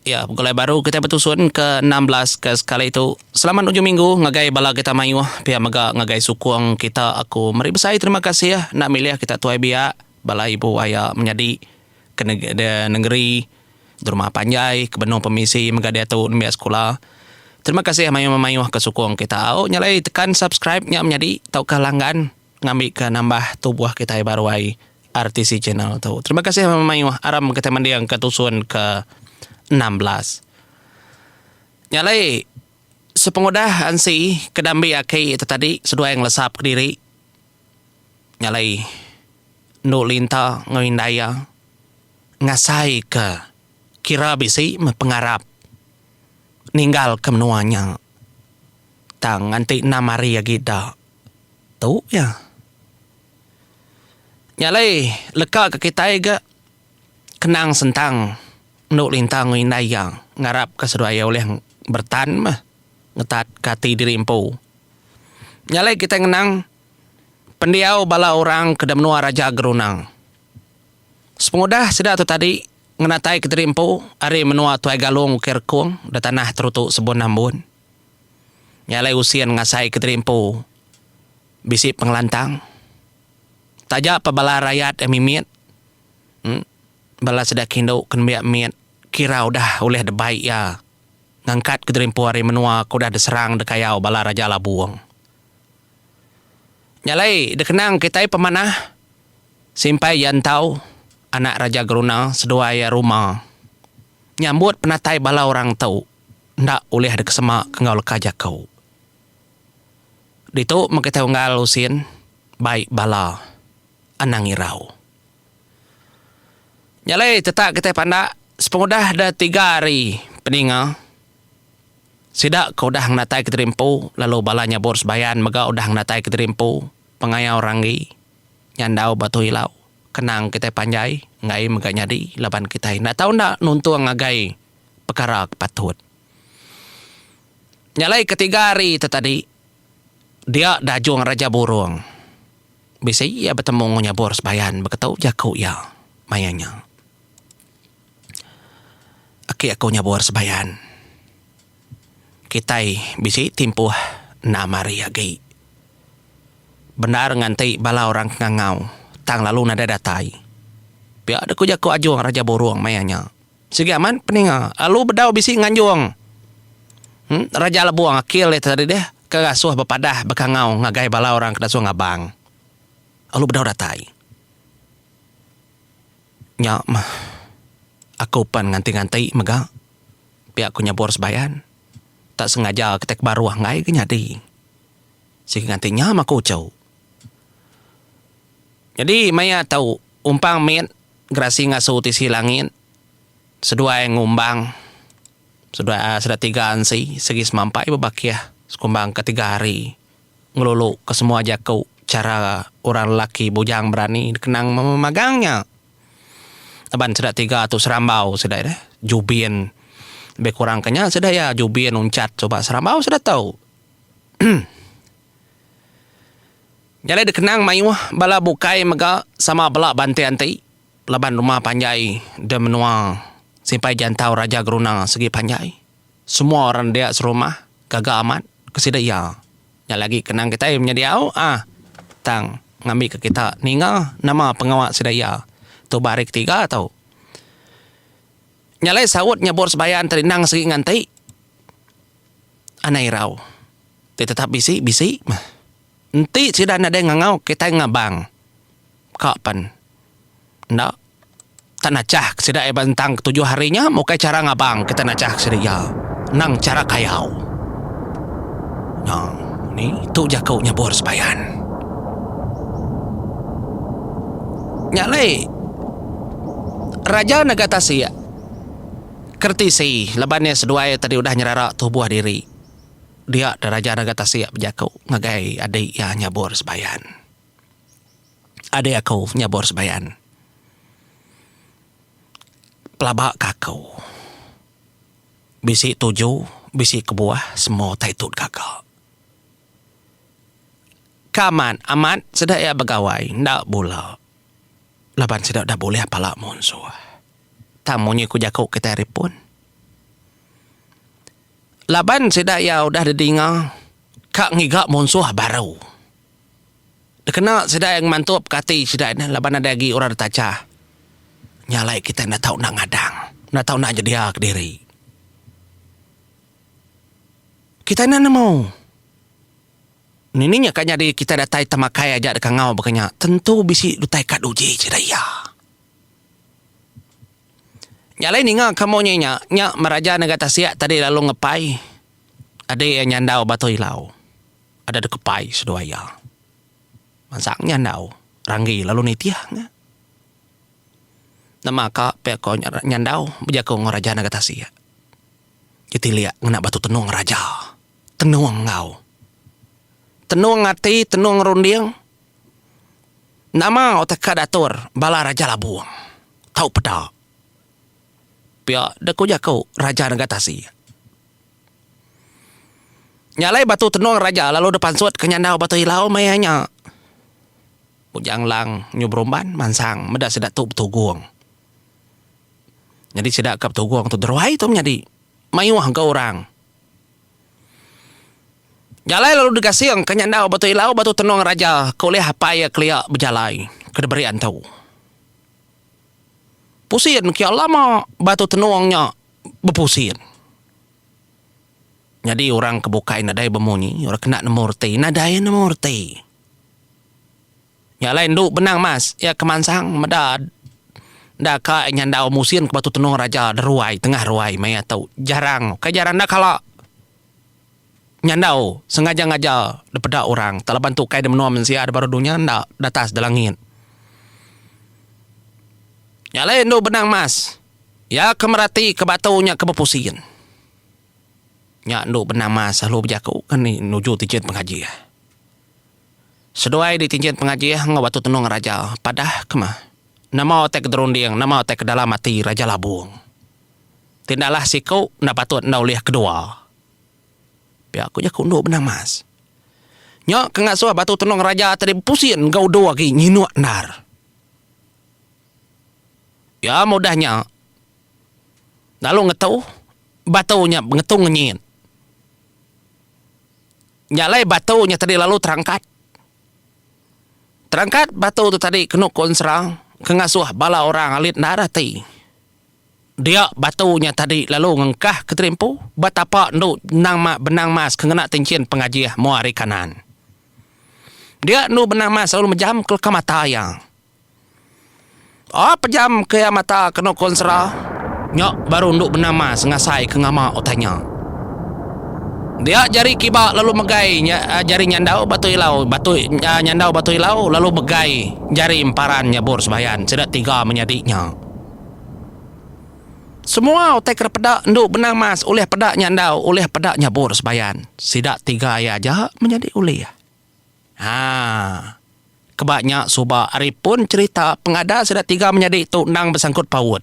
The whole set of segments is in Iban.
Iya, begulai baru kitai betusun ke enam belas ke sekali tu. Selamat ujung minggu ngagai bala kita mayuh pia mega ngagai sukung kita aku meri besai terima kasih enda milih kita tuai biak bala ibu aya menyadi ke nengeri derumah panjai ke benung pemisi mega diatu nembiak sekula terima kasih mayuh memayuh ke sukung kita au nya alai tekan subscribe nya menyadi tauka langgan ngambi ke nambah tubuh kitai baru ai. RTC channel tu. Terima kasih mama mayuh aram kita manding ke tusun ke 16. Nya alai sepengudah ansi ke dambi aki tu tadi seduai ngelesap kediri. Nya alai endu linta enggau indai iya ngasai ke kira bisi meh pengarap ninggal ke menua nya tang nganti enam hari agi da. Tu iya. Nya alai leka ke kitai ga kenang sentang endo lintang enggau indai iya ngarap ka seduai iya ulih bertan meh ngetat ka ati diri empu. Nya alai kitai ngenang pendiau bala orang ke da menua Raja Gerunang. Sepengudah sida tu tadi ngenatai kediri empu ari menua Tuai Galong Ukai Rekong da tanah Teruto Sebon Ambon. Nya alai usin ngasai Kediri Empu bisi pengelantang. Taja pa bala rayat iya mimit bala sida kindu ke nembiak mit kira udah ulih debai iya ngangkat Kediri Empu ari menua ke udah diserang dikayau bala Raja Labong. Nya alai dikenang kitai pemanah simpai iya entau anak Raja Geruna seduai iya Ruma nyambut penatai bala orang tu. enda ulih dikesema enggau leka jaku. Ditu meh kitai unggal usin bai bala anang irau. Nya alai tetap kitai pandak sepengudah da tiga hari peninga sida ke udah ngenatai Kediri Empu lalu bala nyabut sebayan mega udah ngenatai Kediri Empu pengayau ranggi nyandau batu ilau kenang kitai panjai enggai mega nyadi laban kitai enda tau enda nuntung ngagai pekara ke patut. Nya alai ketiga hari tu tadi, dia Dajung Raja Burung bisi iya betemu enggau Nyabur Sebayan beketu jaku iya maya nya. Aki aku Nyabur Sebayan, kitai bisi ti empuh enam hari agi. Bendar nganti bala orang ke ngangau tang lalu nadai datai. Pia deh ku jaku Ajung Raja Burung maya nya. Sigi amat peninga. Lalu bedau bisi nganjung. Raja Lebong akil dia tadi deh ke ngasuh bepadah bekangau ngagai bala orang ke dasuh ngabang. Lalu bedau datai. Nya mah aku pan nganti-nganti mega pia ku nyebur sebayan. Tak sengaja kitai ke baruh enggai ke nyadi. Sigi nganti nya mah ku uchu. Nyadi maya tu umpang mit. Gerasi ngasu tisi langit seduai ngumbang seduai sedatiga ansi sigi semampai bebakih sekumbang ke tiga hari ngelulu ke semua jaku chara orang lelaki bujang berani dikenang memagang nya laban sedatiga tu serambau sida ida jubin lebih kurang ke nya sida iya jubin uncat suba serambau sida tu. Nya alai dikenang mayuh bala bukai mega sama bela banting ati laban rumah panjai di menua simpai jantau Raja Geruna sigi panjai. Semua orang dia serumah gaga amat ke sida iya. Nya agi dikenang kitai menya diau ah tang ngambika kita ninga nama pengawa sida iya tu ba hari ketiga tu. Nya alai saut nyabut sembahyang ti rindang sigi nganti anai irau ti tetap bisi bisi meh. Enti sida nadai ngangau kitai ngabang ka pen enda tak nachah ke sida ba entang ke tujuh hari nya ukai chara ngabang kitai nachah ke sida iya nang chara kayau nya ni tu jaku nyabur sebayan nya alai raja nega tasik kertisi laban iya seduai tadi udah nyerara tubuh diri. dia da Raja Naga Tasik bejaku ngagai adi iya nyabor sebayan. Adi aku nyabor sebayan. Pelaba ka aku. Bisi tuju, bisi kebuah semua utai tu gaga. Ka amat, amat sida iya begawai enda bula laban sida udah bulih pala munsuh. Tang munyi ku jaku kitai ari pun. Laban sida iya udah didinga ka ngiga munsuh baru. Dikena sida iya ngemantupka ati sida nya laban nadai agi orang ditacha. Nya alai kitai enda tau enda ngadang, enda tau enda nyedia kediri. Kitai enda nemu nining iya ka nyadi kitai datai temakai aja dikangau baka nya tentu bisi utai ka dudi sida iya. Nya alai ninga ka moh nya nya meraja nega tasik tadi lalu ngepai adi iya nyandau bato ilau ada deka pai seduai iya mansang nyandau ranggi lalu nitih nya nama ka pia ko nyandau bejaku enggau raja nega tasik ketilik ngena batu tenong raja tenong enggau tenong ati tenong runding. Nama utai ka dator bala raja labong tau peda pia da ku jaku raja nengah tasik. Nya alai batu tenung raja lalu da pansut ke nyandau batu ilau maya nya. Bujang Lang nyu berumban mansang meda sida tu betugong. Nyadi sida ka betugong tu deruai tu menyadi mayuh ga orang. Jalai lalu digasing ka nya endau batu ilau batu tenung raja ke ulih apai iya kelia bejalai ke diberi antu. Pusin kiya lama batu tenung nya bepusin. Nyadi orang ke bukai nadai bemunyi orang kena nemu reti nadai nemu reti. Nya alai endu benang mas iya ke mansang meda enda ka nyandau musin ke batu tenung raja deruai tengah ruai maya tu jarang ukai jarang enda kala nyandau sengaja ngaja dipeda orang tak laban tu kai da menua mensia da baru dunya enda da atas da langit. Nya alai endu benang mas iya ke merati ke batu nya ke bepusin nya endu benang mas lalu bejaku ngani nuju tijin pengaji. Seduai ditinjin pengajih enggau batu tenung raja, padah ke mah. Nama utai ke derunding, nama utai ke dalam ati Raja Labung. Ti enda alah siku, enda patut enda ulih kedua. Pia ku jaku endu benang mas. Nya ke ngasuh batu tenung raja tadi bepusin enggau udu agi nyinuk endar. Iya meh udah nya, lalu ngetu, batu nya ngetu ngenyit. Nya alai batu nya tadi lalu terangkat. Terangkat batu tu tadi kenu ku ensera ke ngasuh bala orang alit enda rati. Dia batu nya tadi lalu ngengkah ke terimpu ba tapa endu benang ma benang mas ke ngena tinchin pengajih mua ari kanan. Dia endu benang mas lalu mejam ke leka mata iya. Aaa pejam ke iya mata ke no konsera. Nya baru endu bendar mas ngasai ke ngama utai nya. Dia jari kiba lalu megai jari nyandau batu ilau batu nyandau batu ilau lalu megai jari emparan nyabur sembayan sida tiga menyadi nya. Semua utai ke peda endu bendar mas ulih peda nyandau ulih peda nyabur sembayan sida tiga iya aja menyadi ulih. Haa. Keba nya suba ari pun cherita pengadas sida tiga menyadi tu endang besangkut paut.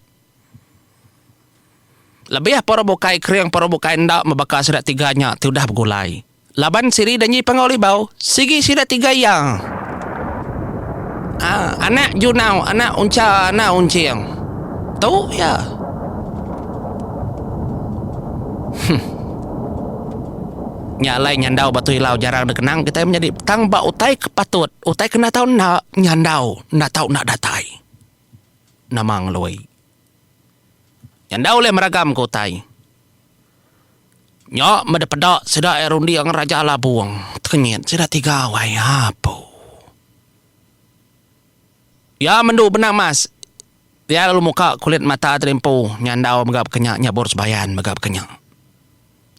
Lebih poro bukai kering poro bukai enda mebaka sida tiga nya ti udah begulai. Laban siri Danji Panggau Libau sigi sida tiga iya. Haa anak Junau anak Uncha anak Unching. Tu iya. Huh. Nya alai nyandau ba Tuilau jarang dekenang kitai menyadi tang ba utai ke patut utai kena tau enda nyandau enda tau enda datai. Nama ngelui. Nyandau ulih meragam ke utai. Nya meda peda sida iya runding Raja Labong tekenyit sida tiga wayah apu. Iya mendu benang emas. Iya lalu muka kulit mata tadi empu nyandau mega baka nya nyabur sebayan mega baka nya.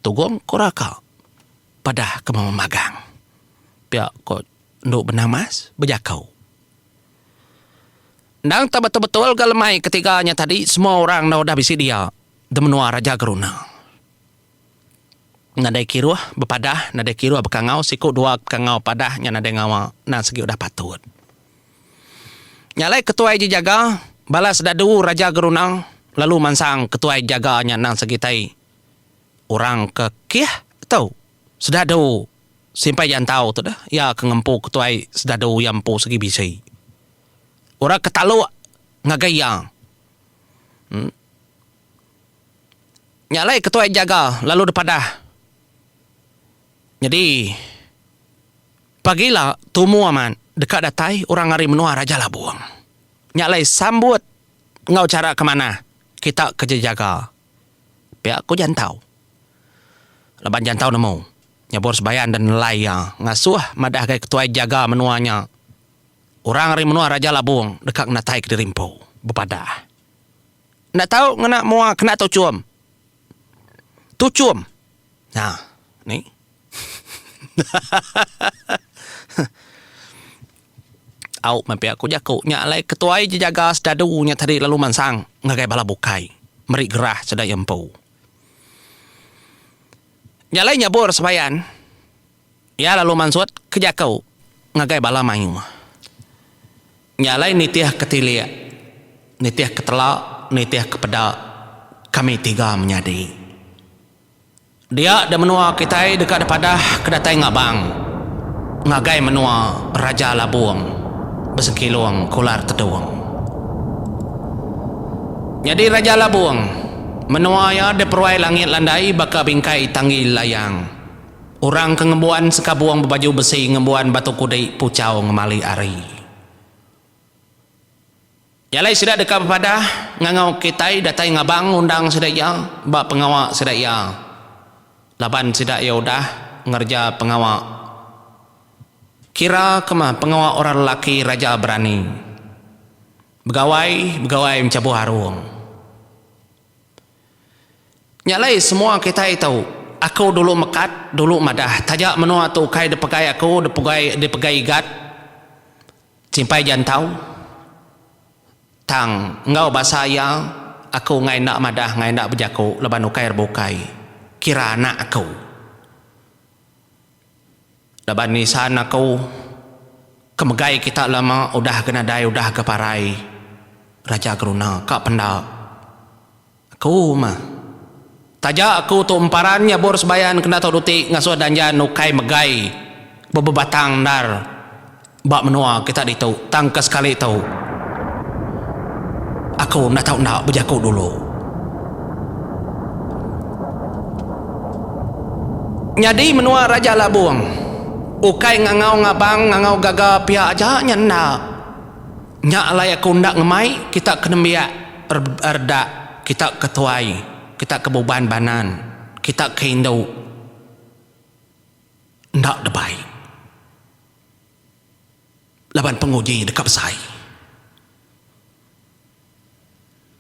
Tugong ku raka padah ke mama magang. Pia ko endu benang emas bejako. Endang tau betul-betul ga lemai ketiga nya tadi semua orang enda udah bisi dia di menua Raja Geruna. Nadai kiruh bepadah nadai kiruh bekangau siku dua bekangau padah nya nadai ngawa endang segi udah patut. Nya alai ketuai je jaga bala sedadu raja gerunang lalu mansang ketuai jaga nya endang segi tai orang ke kih tu sedadu simpai jantau tu deh iya ke ngempu ketuai sedadu iya empu segi bisi. Orang ke taluk ngagai iya. Nya alai ketuai jaga lalu depadah. Nyadi pagi ila tumu amat deka datai orang ari menua Raja Labong. Nya alai sambut enggau chara ke manah kita ke nyadi jaga pia ku Jantau. Laban Jantau nemu nyebur sebayan dan nelai iya ngasuh madah gai ketuai jaga menua nya orang ari menua Raja Labong deka ngenataika diri empu bepadah. Enda tau ngena mua kena tuchum. Tuchum. Ha. Ni. Au meh pia ku jaku nya alai ketuai jejaga sedadu nya tadi lalu mansang ngagai bala bukai meri gerah sedaya empu. Nya alai nyabur sembayan. Iya lalu mansut ke jaku ngagai bala mayuh. Nya alai nitih ke tilik, nitih ke tela, nitih ke peda, kami tiga menyadi. Dia da menua kitai deka dipadah ke datai ngabang ngagai menua Raja Labong besengkilung Kular Tedong. Nyadi Raja Labong, menua iya diperuai langit landai baka bingkai tanggi layang. Orang ke ngembuan sekabung bebaju besi ngembuan batu kudi puchau ngemali ari. Nya alai sida deka bepadah ngangau kitai datai ngabang ngundang sida iya ba pengawa sida iya laban sida iya udah ngereja pengawa kira ke meh pengawa orang lelaki raja berani begawai begawai mechabuh arung. Nya alai semua kitai tau, aku dulu mekat, dulu madah taja menua tu ukai dipegai aku dipegai dipegai igat simpai jantau tang enggau basa iya aku enggai enda madah enggai enda bejaku laban ukai rebukai kira anak aku. Laban nisan aku ke megai kita lama udah ke nadai udah ke parai raja geruna ka penda aku mah taja aku tu emparan nyabur sebayan kena tau duti ngasuh danjan ukai megai bebebatang endar. Ba menua kita ditu tang ke sekali tu aku enda tau enda bejaku dulu. Nyadi menua Raja Labong ukai ngangau ngabang ngangau gaga pia aja nya enda. Nya alai aku enda ngemai kita ke nembiak redak kita ke tuai kita ke buban banan kita ke indu enda debai. laban penguji deka besai.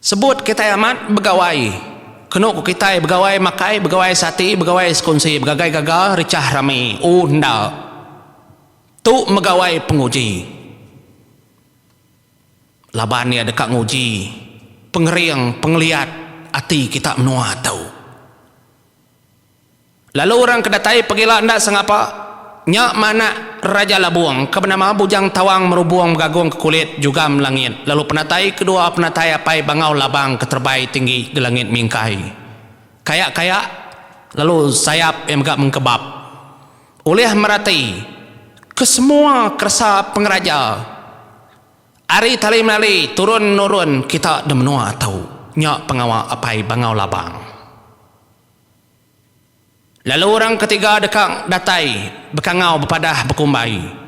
Sebut kitai amat begawai kenu ku kitai begawai makai begawai sati begawai sekunsi begagai gaga richah rami u enda tu megawai penguji laban iya deka nguji pengering pengeliat ati kita menua tu. Lalu orang ke datai pegila enda sengapa, nya meh anak Raja Labung ke benama Bujang Tawang Merubung Begagung ke Kulit Jugam Langit lalu penatai kedua penatai apai Bangau Labang ke terebai tinggi gelangit mingkai. Kaya-kaya lalu sayap iya mega mengkebap ulih merati kesemua keresa pengeraja ari tali menali turun-nurun kita di menua tu. Nya pengawa apai Bangau Labang. Lalu orang ketiga deka datai bekangau bepadah bekumbai,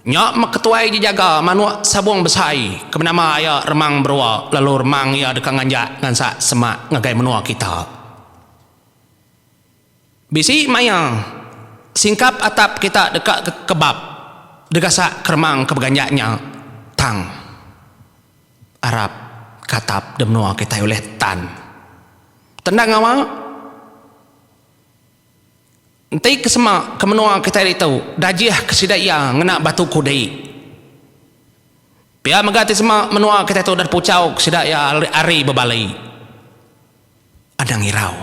Nya meh ketuai je jaga manuk sabung besai ke benama iya Remang Berua lalu remang iya deka nganjak ngansa semak ngagai menua kita. Bisi maya singkap atap kita deka kebap degasak ke remang ke beganjak nya tang arap ke atap de menua kitai ulih tan. Tendang ngawa enti ke sema ke menua kitai ditu dajih ke sida iya ngena batu kudi. Pia mega ti sema menua kitai tu deh puchau ke sida iya ari bebali. Anang irau.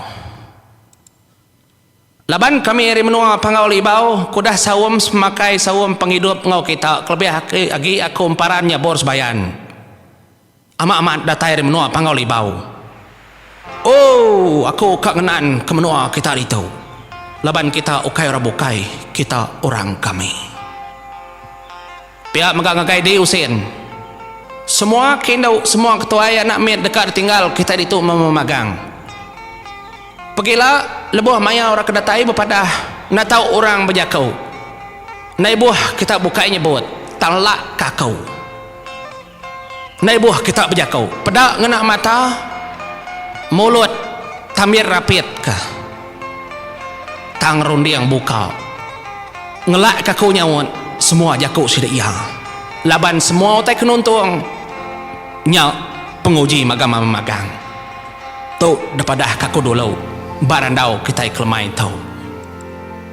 Laban kami ari menua Panggau Libau ke udah saum semakai saum pengidup enggau kita kelebih agi aku emparan nyabur sebayan. Amat-amat datai ari menua Panggau Libau. Ooh aku ka ngenaan ke menua kita ditu. Laban kita ukai orang bukai, kita orang kami. Pia mega ngagai diri usin. Semua ke indu, semua ke tuai anak mit deka ditinggal kitai ditu memagang. Pegila lebuh maya orang ke datai bepadah enda tau orang bejaku. Enda ibuh kita bukai nyebut, tang lak ka aku. Endai buh kita bejako, peda ngena mata, mulut, tambit rapit ka. Tang runding buka. Ngelak ka aku nyaut semua jako sida iya. Laban semua utai ke nuntung nya penguji magam ama magang. Tu depadah ka aku dulu ba randau kitai kelemai tu.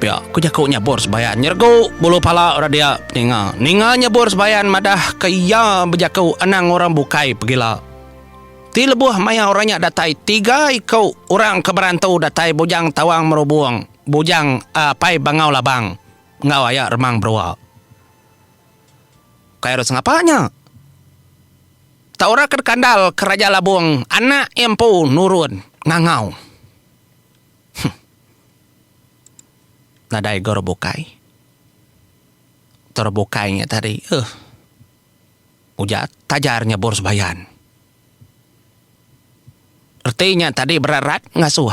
Pia ku jaku nya Bor Sebayan nyergu bulu pala orang dia ninga. Ninga nya Bor Sebayan madah ke iya bejaku anang orang bukai pegila. Ti lebuh maya orang nya datai tiga iku orang ke berantu datai Bujang Tawang Merubong, Bujang Apai Bangau Labang enggau aya Remang Berua. Kai orang sengapa nya. Tak orang ke dikandal ke Raja Labong anak iya empu nurun ngangau. Huh. Nadai ga orang bukai. Tu orang bukai nya tadi. Huh. Ujar Tajar nyebur sebayan. Reti nya tadi berat rat ngasuh.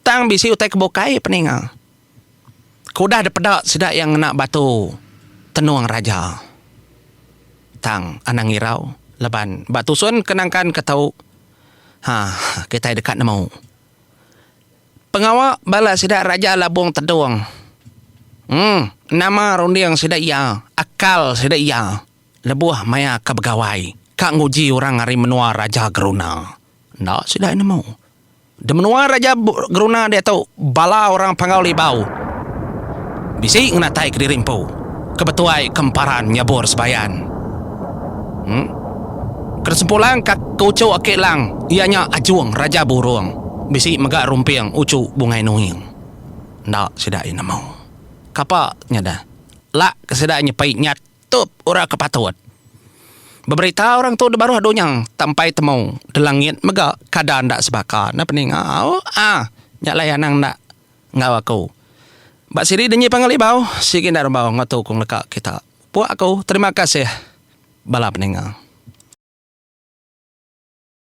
Tang bisi utai ke bukai peninga. Ke udah dipeda sida iya ngena batu tenung raja. Tang anang irau laban ba tusun ke nangkan ke tu. Huh. Kitai deka nemu. Pengawa bala sida raja Labong Tedong. Emm nama runding sida iya, akal sida iya lebuh maya ka begawai ka nguji orang ari menua Raja Geruna. Enda sida nemu. Da menua Raja Geruna diatu bala orang Panggau Libau bisi ngena tai kediri empu ke betuai ke emparan nyabur sebayan. Ke sempulang ka tuchuk aki lang iya nya Ajung Raja Burung bisi mega rumping uchu bungai nuing. Enda sida iya nemu. Kapa nya dah lak ke sida nyepi nyatup ura ke patut. Beberita orang tu dibaruh dunya tak empai temu di langit mega kada enda sebaka enda peninga ah nya alai anang enda enggau aku. Ba sidi denyi pangan libau sigi enda rembau enggau tu ku ngeleka kita. Puak aku terima kasih bala peninga.